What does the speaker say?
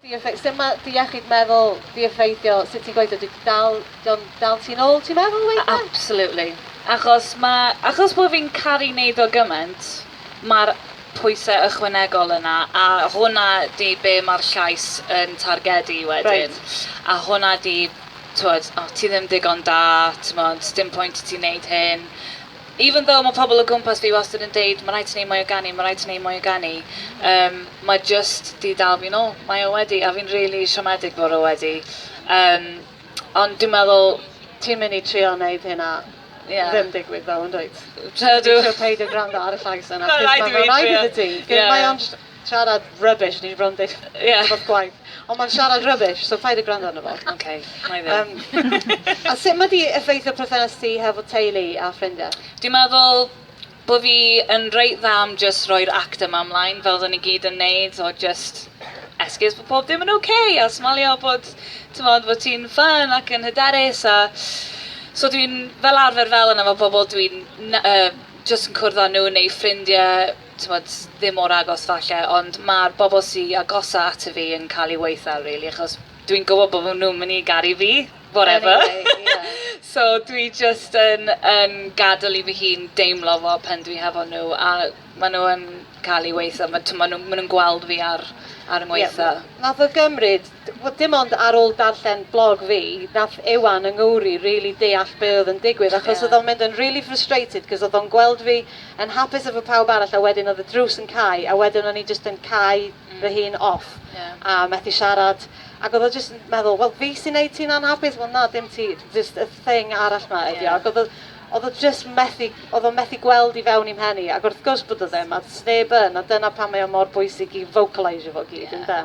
Diefe- sdim ma- dy iechyd meddwl di effeithio sut ti'n gweithio di dal di'n dal ti'n ôl ti'n meddwl weithiau? Absolutely achos ma' achos bo' fi'n caru neud o gyment ma'r pwyse ychwanegol yna a hwnna di be' ma'r llais yn targedu wedyn. Reit. A hwnna di t'wod o ti ddim digon da t'mod sdim pwynt i ti neud hyn. Even though ma pobl o gwmpas fi wastad yn deud ma rhaid ti neud mwy o ganu, ma rhaid ti neud mwy o ganu, yym ma jyst di dal fi nôl. Mae o wedi, a fi'n rili siomedig bod o wedi. Yym ond dwi'n meddwl... Ti'n mynd i trio neud hynna ddim digwydd ddo yn dwyt? Ti'n trio peidio gwrando ar y llais yna achos ma fe'n rhaid iddi ti. Mae o'n... Siarad rubbish ni bron deud yeah. rhywbeth gwaith. Ond mae'n siarad rubbish, so paid y gwrando arno fo. OK, mae ddim. Um, a sut mae di effeithio perthynas ti hefo teulu a ffrindiau? Dwi'n meddwl bod fi yn reit dda am just roi'r act yma ymlaen fel oedden ni gyd yn neud o just esgus bod pob dim yn oce okay, a smalio bod, tymod, bod ti'n ffyn ac yn hyderus a so dwi'n fel arfer fel yna mae pobl dwi'n uh, just yn cwrdd â nhw neu ffrindiau t'mod, ddim mor agos falle, ond ma'r bobl sy agosa ato fi yn cael eu weithdal rili, achos dwi'n gwybod bod nhw'n mynd i garu fi, whatever. Anyway, ie. So dwi jyst yn, yn gadael i fy hun deimlo fo pen dwi hefo nhw, a maen nhw yn cael eu weithdal. Ma- T'mod, nhw, maen nhw'n gweld fi ar, ar 'y ngweithdai. Ie, wnaeth o gymryd, wel dim ond ar ôl darllen blog fi, wnaeth Iwan yng Nghymru rili deall be oedd yn digwydd, achos... Ie. ...oedd o'n mynd yn rili frustrated, 'cos oedd o'n gweld fi yn hapus efo pawb arall a wedyn oedd y drws yn cau a wedyn o'n i jyst yn cau mm. fy hun off yeah. a methu siarad ac oedd o jyst yn meddwl wel fi sy'n neud ti'n anhapus wel na dim ti jyst y thing arall ma ydi yeah. ac oedd o oedd o jyst methu, oedd o methu gweld i fewn i'n mhen i, ac wrth gwrs bod o ddim, a sneb yn, a dyna pan mae o mor bwysig i vocalisio fo gyd, yeah. ynda?